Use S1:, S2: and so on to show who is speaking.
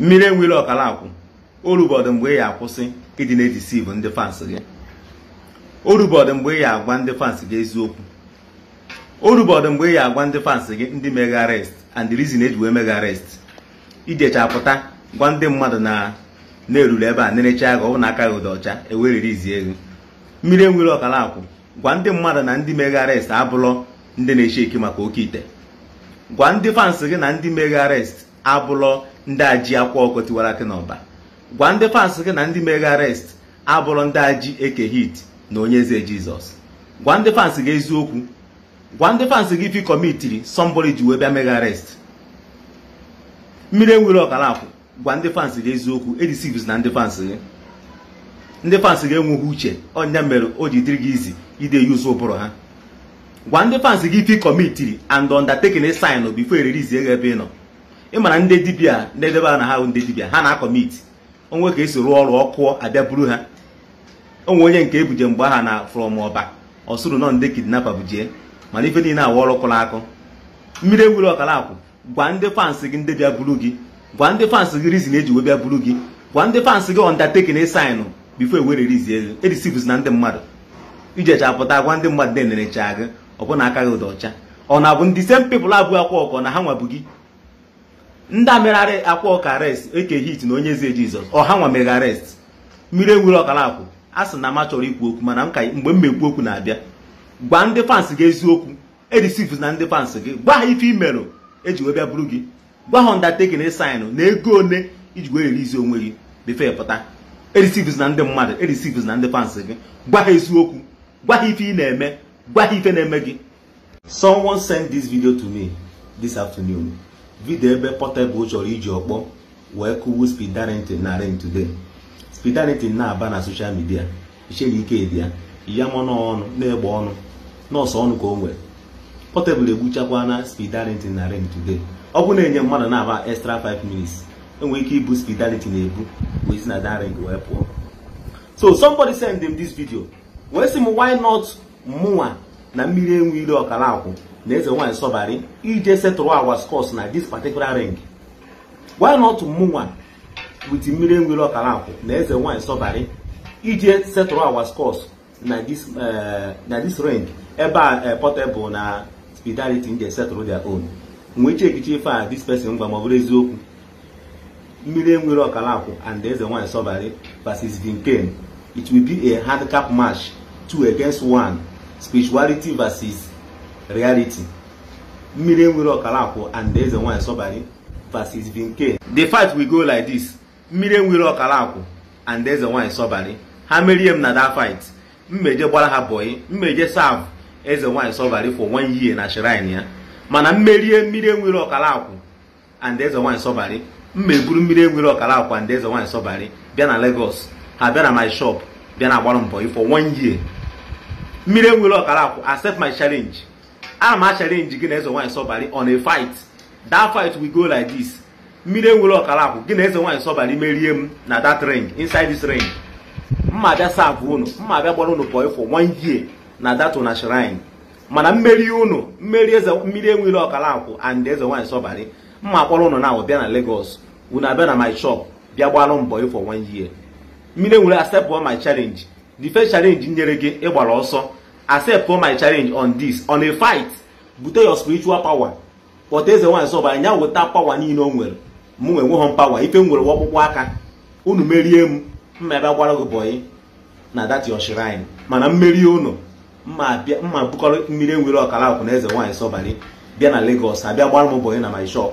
S1: mmiri enwe ilo Ọkalakwu orubọdụ mgbe ị ya akwụsị ịdị na-edeceive ndị fans gị orubọdụ mgbe ị ya agwa ndị fans gị eziokwu orubọdụ mgbe ị ya agwa ndị fans gị ndị mee gị arrest and the reason e ji wee mee gị arrest i jechaa pụta gwa ndị mmadụ na e ruru ebe a nerechaa gị ọ bụ na aka gị dị ọcha e wee release gị mmiri enwe ilo Ọkalakwu gwa ndị mmadụ na ndị mee gị arrest abụlọ ndị na-echeck maka oke ite gwa ndị fans gị na ndị mee gị arrest abụlọ ndị a ji akwa ọkụkọ tiwara akị n'ọba gwa ndị fans gị na ndị mee gị arrest abụlọ ndị a ji eke hit na onye eze jizọs gwa ndị fans gị eziokwu gwa ndị fans gị ife ị kọmitiri somebody ji wee bịa mee gị arrest mmiri enwe ilo Ọkalakwu gwa ndị fans gị eziokwu edeceivezina ndị fans gị ndị fans gị enweghị uche ọ nya mere o ji dịrị gị easy ide use ụbụrụ ha gwa ndị fans gị ife ị kọmitiri and undertaking ị signụ before e release gị ebe ị nọ ị mara ndị dibia na-edebe na ha ndị dibia ha na-akọmit o nwe ka e si rụọ ọrụ ọ kụọ a bịa buru ha o nwe onye nke e buje mgbe ahụ na from ọba ọ sịrị na ọ ndị kidnapper bujie mana ife niile awa ọrụ kụrụ akụ mmiri enwe ilo Ọkalakwu gwa ndị fans gị ndị bịa buru gị gwa ndị fans gị reason e ji wee bịa buru gị gwa ndị fans gị undertaking ị signụ before e wee release gị edeceivezina ndị mmadụ i jechaa pụta gwa ndị mmadụ na e nerechaa gị ọ bụ na aka gị dị ọcha ọ na-abụ ndị same people a bu akwa ọkụkọ na ha nwa bu gị ndị a mere akwa ọkụkọ arrest eke hit na onye eze jizọs ọ ha nwa mee gị arrest mmiri enwe ilo Ọkalakwu a sị na m achọrọ ikwu okwu mana mgbe m mekwu okwu na-abịa gwa ndị fans gị eziokwu edeceivezina ndị fans gị gwa ha ife i merụ e ji wee bịa buru gị gwa ha undertaking ị signụ na ego one i ji wee release onwe gị before ị pụta edeceivezina ndị mmadụ edeceivezina ndị fans gị gwa ha eziokwu gwa ha ife ị na-eme gwa ha ife na-eme gị someone sent this video to me this afternoon video ebe Portable chọrọ iji ọkpọ wee kụwu Speed Darlington na ring today Speed Darlington na-aba na social media i chere ike dị ya ya mọnụ ọnụ na-egbe ọnụ na ọ sọ ọnụ ka o nwere Portable egbuchakwana Speed Darlington na ring today ọ bụ na e nye mmadụ naabọ extra 5 minutes e nwere ike ibu Speed Darlington ebu wee si na that ring wee pụọ so somebody send m this video wee sị m why not mụnwa na mmiri enwe ilo Ọkalakwu na eze nwaanyị sọbari ije settle our scores na this particular ring why not mụnwa with mmiri enwe ilo Ọkalakwu na eze nwanyị sọbarị ije settle our scores na this eh, na this ring ebe a eh, Portable na Speed Darlington je settle their own m wee checkịchaa ife a this person gwa m ọ bụrụ eziokwu mmiri enwe ilo Ọkalakwu and eze nwanyị sọbarị versus Vinken it will be a handicap match two against one spirituality versus reality mmiri enwere ọkala akwụ and eze nwanyị sọbari versus vinke the fight will go like this mmiri enwere ọkala akwụ and eze nwanyị sọbari ha merie m na that fight m meje gbara ha bọyị m meje serve eze nwanyị sọbari for one year na shrine ya mana m merie mmiri enwere ọkala akwụ and eze nwaanyị sọbarị m ma eburu mmiri enwere ọkala akwụ and eze nwaanyị sọbarị bịa na Lagos ha bịa na my shop bịa na agbara m bọyị for one year mmiri enwere ọkala akwụ accept my challenge ana m a challenge gị na eze nwaanyị sọbarị on a fight that fight will go like this mmiri enwere ọkala akwụ gị na eze nwaanyị sọbarị merie m na that ring inside this ring m ma abịa serve unu m ma abịa gbara unu bọyị for one year na that una shrine mana m merie unu m merie eze mmiri enwere ọkala akwụ and eze nwaanyị sọbari m ma akpọrọ unu na bịa na Lagos unu abịa na my shop bịa gbalụ m bọyị for one year mmiri enwere accept my challenge the first challenge nyere gị ị gbara ọsọ accept my challenge on this on a fight bute your spiritual power kpọta eze nwaanyị sọbari nya weta power niile o nwere mụ nwa enweghọ m power ife m nwere ọkpụkpụ aka unu merie m m ma eje gbara gị bọyị na that your shrine mana m merie unu m ma ebukọrọ mmiri enwere ọkala akwụ na eze nwaanyị sọbali bịa na Lagos abịa gbara m bọyị na my shop